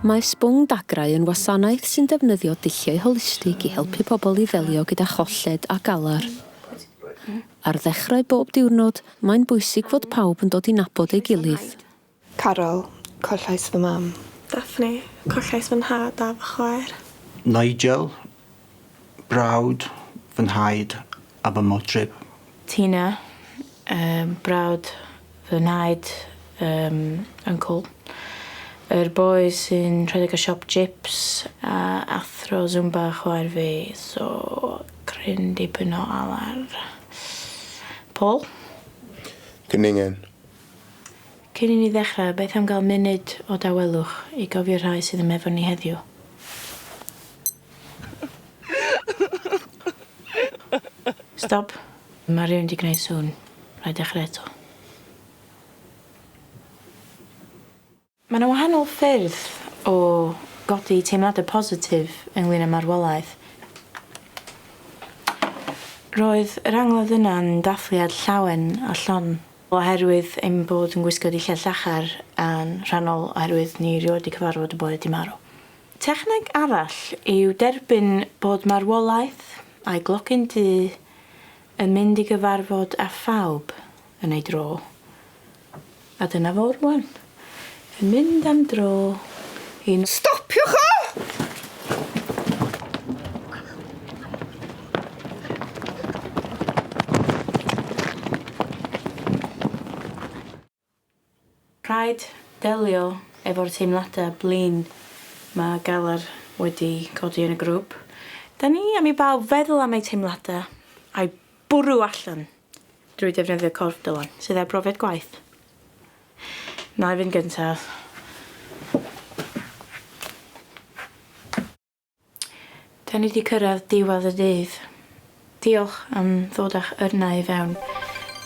Mae Sbwng Dagrau yn wasanaeth sy'n defnyddio dulliau holistig i helpu pobl i ddelio gyda cholled a galar. Ar ddechrau bob diwrnod, mae'n bwysig fod pawb yn dod i nabod ei gilydd. Caryl, Collais fy mam. Daphne, Collais fy nhad a fy chwaer. Nigel, Brawd, fy nhaid a fy modryb. Tina, Yym, brawd, fy nhaid, yym, uncle. Yr boi sy'n rhedeg y siop jips a athro Zumba chwaer fi, so cryn dipyn o alar. Paul? Cwningen. Cyn i ni ddechrau, beth am gael munud o dawelwch i gofio rhai sydd yma efo ni heddiw? Stop. Mae rhywun 'di gwneud sŵn. Rhaid dechrau eto. Mae yna wahanol ffyrdd o godi teimladau positif ynglŷn â marwolaeth. Roedd yr angladd yna'n dathliad llawen a llon. Oherwydd ein bod yn gwisgo dillad llachar, yn rhannol oherwydd ni rioed 'di cyfarfod y boi 'di marw. Techneg arall yw derbyn bod marwolaeth a'i glocyn du yn mynd i gyfarfod â phawb yn ei dro. A dyna fo rwan, yn mynd am dro i... Stopiwch o! Rhaid delio efo'r teimladau blin ma Galar wedi codi yn y grŵp. Da ni am i bawb feddwl am eu teimladau, a'u bwrw allan. Drwy ddefnyddio corff Dylan, sydd heb brofiad gwaith. Na i fynd gyntaf. Da ni di cyrraedd diwedd y dydd. Diolch am ddod â'ch yrnau i fewn.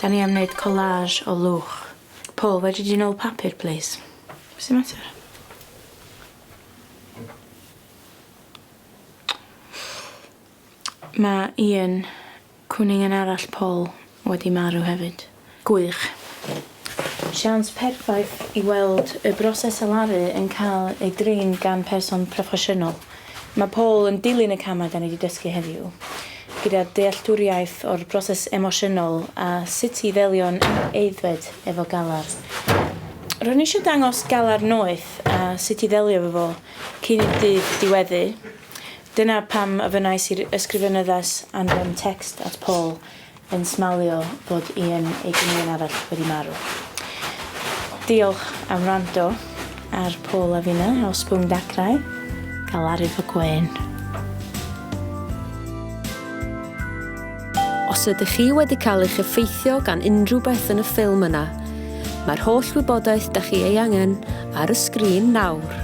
Da ni am wneud collage o lwch. Paul, fedri di nôl papur, plis? Be sy'n mater? Mae Ian, cwningen arall Paul, wedi marw hefyd. Gwych. Siawns perffaith i weld y broses alaru yn cael ei drin gan person proffesiynol. Mae Paul yn dilyn y camau da ni wedi dysgu heddiw, gyda dealltwriaeth o'r broses emosiynol a sut i ddelio'n aeddfed efo galar. Ro'n i eisiau dangos galar noeth a sut i ddelio efo fo cyn i'r dydd diweddu. Dyna pam ofynnais i'r Ysgrifenyddas anfon tecst at Paul yn smalio bod Ian, ei gynilion arall, wedi marw. Diolch am wrando ar Paul a finna o Sbwng Dacrau, Galarif y Gwên. Os ydych chi wedi cael eich effeithio gan unrhyw beth yn y ffilm yna, mae'r holl wybodaeth da chi ei angen ar y sgrin nawr.